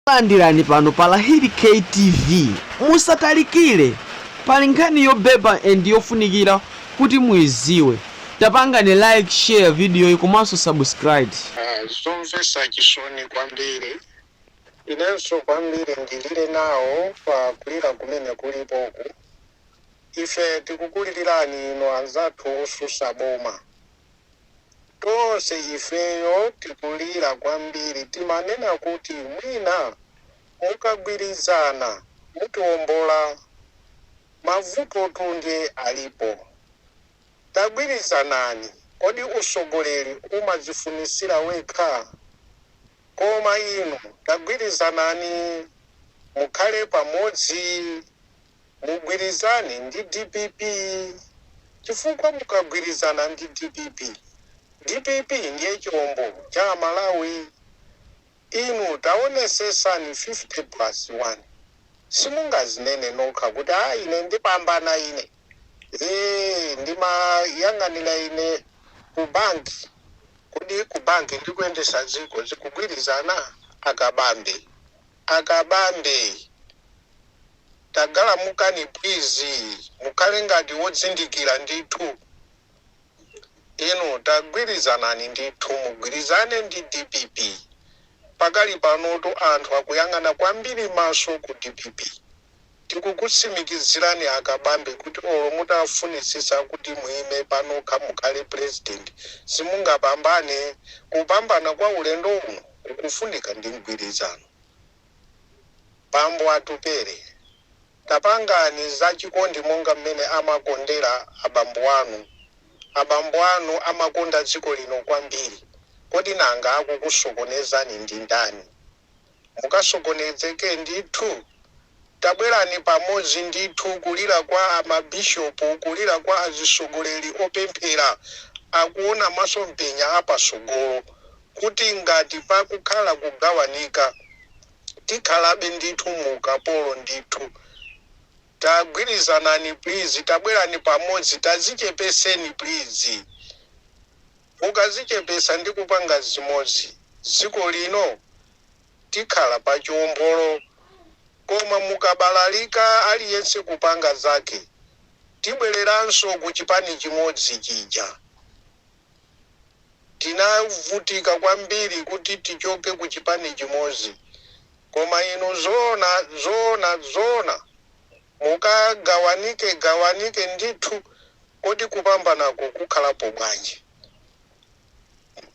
Takulandirani pano pa Lahiri K TV musatalikile pali nkhani yobeba end yofunikira kuti muiziwe tapangani like share video yi komanso subscribe. Ah, zomvesa chisoni kwambiri inenso kwambiri ndilile nawo pa kulira kumene kulipoku ife tikukulilirani inu anzathu osusa boma Tonse ifeyo tikulira kwambiri timanena kuti mwina mukagwirizana mutiombola mavutotu nde alipo tagwirizanani kodi usogoleri umadzifunisira wekha? Koma inu tagwirizanani mukhale pamodzi. Mugwirizane ndi dpp chifukwa mukagwirizana ndi dpp, dpp ndiye chombo cha amalawi inu tawonesesani 50 plus 1 simungawine nokha kuti aa ine ndipambana ine ee ndimayang'anira ine ku bank kodi ku bank ndi kuyendesa dziko zikugwirizana? Akabambe akabambe. tagalamukani plizi mukhale ngati wodzindikira ndithu inu tagwilizanani ndithu mugwilizane ndi dpp pakali panotu anthu akuyang'ana kwambiri maso ku dpp tikukutsimikizilani akabambe kuti olo mutafunitsitsa kuti muime panokha mukhale president simungapambane kupambana kwa ulendo uno kukufunika ndi mgwilizano. Bambo Atupele, tapangani za chikondi monga mmene amakondera abambo anu. Abambo anu amakonda dziko lino kwambiri. Kodi nanga akukusokonezani ndi ndani? Mukasokonedzeke ndithu. Tabwerani pamodzi ndithu kulira kwa mabishopu, kulira kwa azitsogoleri opemphera, akuona masomphenya a patsogolo. kuti ngati pakukhala kugawanika, tikhalabe ndithu mu ukapolo ndithu. Tagwirizanani please, tabwerani pamodzi, tazichepeseni please. Mukazichepesa ndi kupanga zimodzi, dziko lino tikhala pa chiombolo koma mukabalalika aliyense kupanga zake, tibwereranso ku chipani chimodzi chija. tinavutika kwambiri kuti tichoke ku chipani chimodzi koma inu zoona zoona zoona mukagawanike gawanike ndithu kodi kupambanako kukhalapo bwanji?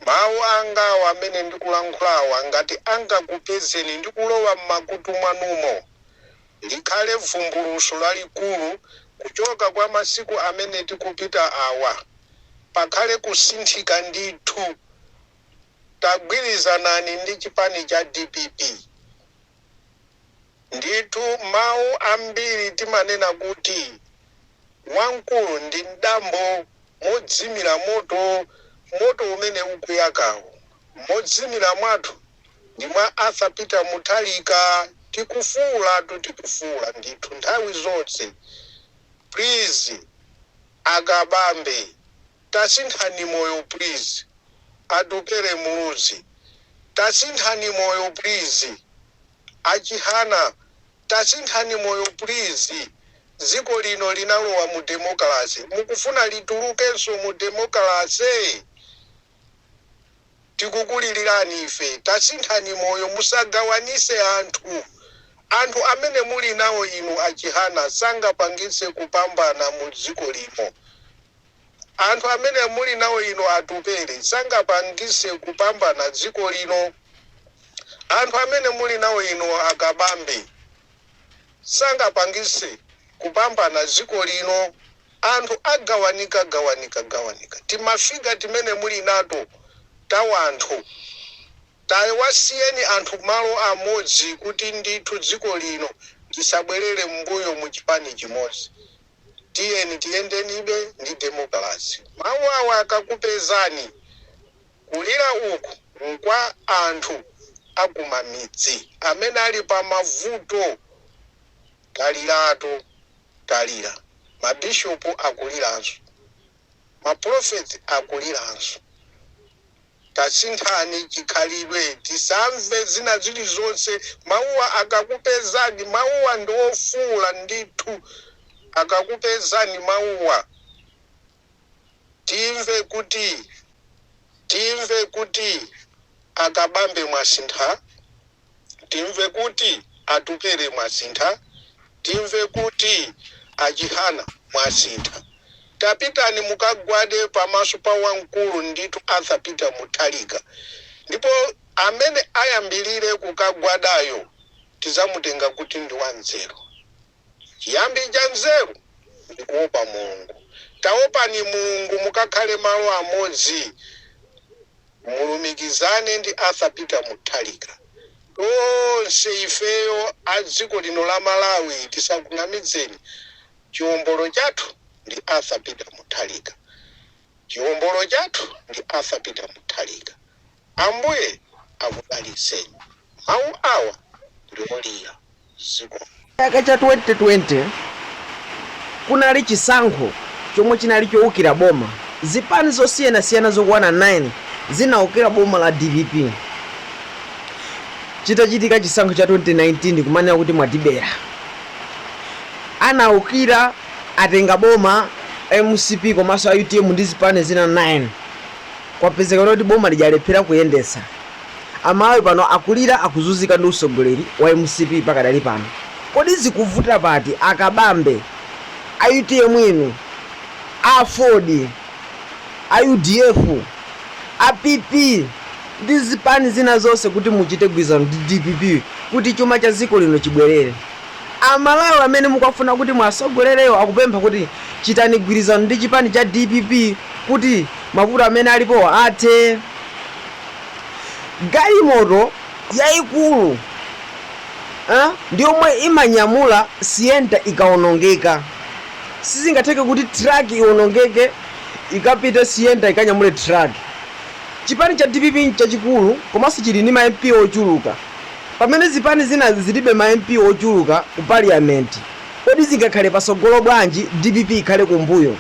Mawu angawa amene ndikulankhulawa ngati angakupezeni ndikulowa mmakutu mwanumo likhale vumbulutso lalikulu kuchokera kwa masiku amene tikupita awa. Pakhale kusinthika ndithu. Tagwirizanani ndi chipani cha dpp. Ndithu mawu ambiri timanena kuti wamkulu ndi mdambo modzimira moto moto umene ukuyakawo. Modzimira mwathu. ndi mwa Arthur Peter Mutharika tikufuulatu tikufuula ndithu nthawi zonse please aKabambe tasinthani moyo please Atupele Muluzi tasinthani moyo please aChihana tasinthani moyo please dziko lino linalowa mu demokalase mukufuna litulukenso mu demokalase? tikukulilirani ife tasinthani moyo musagawanise anthu anthu amene muli nawo inu a chihana sangapangitse kupambana mu dziko lino anthu amene muli nawo inu atupele sangapangise kupambana dziko lino anthu amene muli nawo inu akabambe sangapangise kupambana dziko lino anthu agawanika gawanika gawanika timafiga timene mulinato tawanthu tayi wasiyeni anthu malo amodzi kuti ndithu dziko lino lisabwelele mbuyo muchipani chimodzi tiyeni tiyendebe ndi demokalase mawu awa akakupezani Kulira uku nkwa anthu akumamidzi amene ali pamavuto. Taliratu talira. Ma bishop akuliranso. Ma prophet akuliranso. Tasinthani chikhalidwe tisamve zina zilizonse. Mauwa akakupezani, mauwa ndi ofuula ndithu. Akakupezani mauwa. Timve kuti Timve kuti a Kabambe mwasintha Timve kuti Atupele mwasintha Timve kuti a Chihana mwasintha Tapitani mukagwade pamaso pa wamkulu ndithu Arthur Peter Mutharika ndipo amene ayambilire kukagwadayo tizamutenga kuti ndi wanzeru. Chiyambi cha nzeru ndi kuopa Mulungu. Taopani Mulungu mukakhale malo amodzi mulumikizane ndi Arthur Peter Mutharika. Tonse ifeyo a dziko lino la Malawi tisakunamizeni chiombolo chathu ndi Arthur Peter Mutharika. Chiombolo chathu ndi Arthur Peter Mutharika. Ambuye akudalitseni. Mawu awa ndi olira. Zikomo. Chaka cha 2020 kunali chisankho chomwe chinali choukira boma. Zipani zosiyanasiyana zokwana 9 zinaukira boma la dpp chitachitika chisankho cha 2019 kumanena kuti mwatibera. Anaukira atenga boma a mcp komanso a utm ndi zipani zina 9. Kwapezeka kuti boma lija lalephera kuyendetsa. A Malawi pano akulira akuzuzika ndi usogoleri wa mcp pakadali pano. Kodi zikuvuta pati a Kabambe, a utm inu, a aford, a udf, a PP ndi zipani zina zonse kuti muchite gwirizano ndi dpp kuti chuma cha dziko lino chibwerere? A Malawi amene mukwafuna kuti muwasogolerewo akupempha kuti chitani gwirizano ndi chipani cha dpp kuti mavuto amene alipowa athe. Galimoto yaikulu ndiyomwe imanyamula sienta ikaonongeka. Sizingatheke kuti truck ionongeke ikapite sienta ikanyamule truck. Chipani cha dpp nchachikulu komanso chili ndi ma MP ochuluka. Pamene zipani zinazi zilibe ma MP ochuluka ku Parliament, kodi zingakhale patsogolo bwanji dpp ikhale kumbuyo?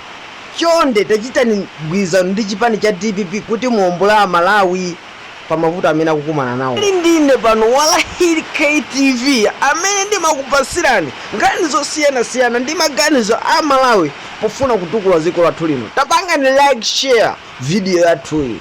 Chonde tachitani mgwirizano ndi chipani cha dpp kuti muombole a Malawi pa mavuto amene akukumana nawo. Muli ndi ine pano Walahil Kay TV amene ndimakupatsirani nkhani zosiyanasiyana ndi maganizo a Malawi pofuna kutukula dziko lathu lino. Tapangani like, share video yathuyi.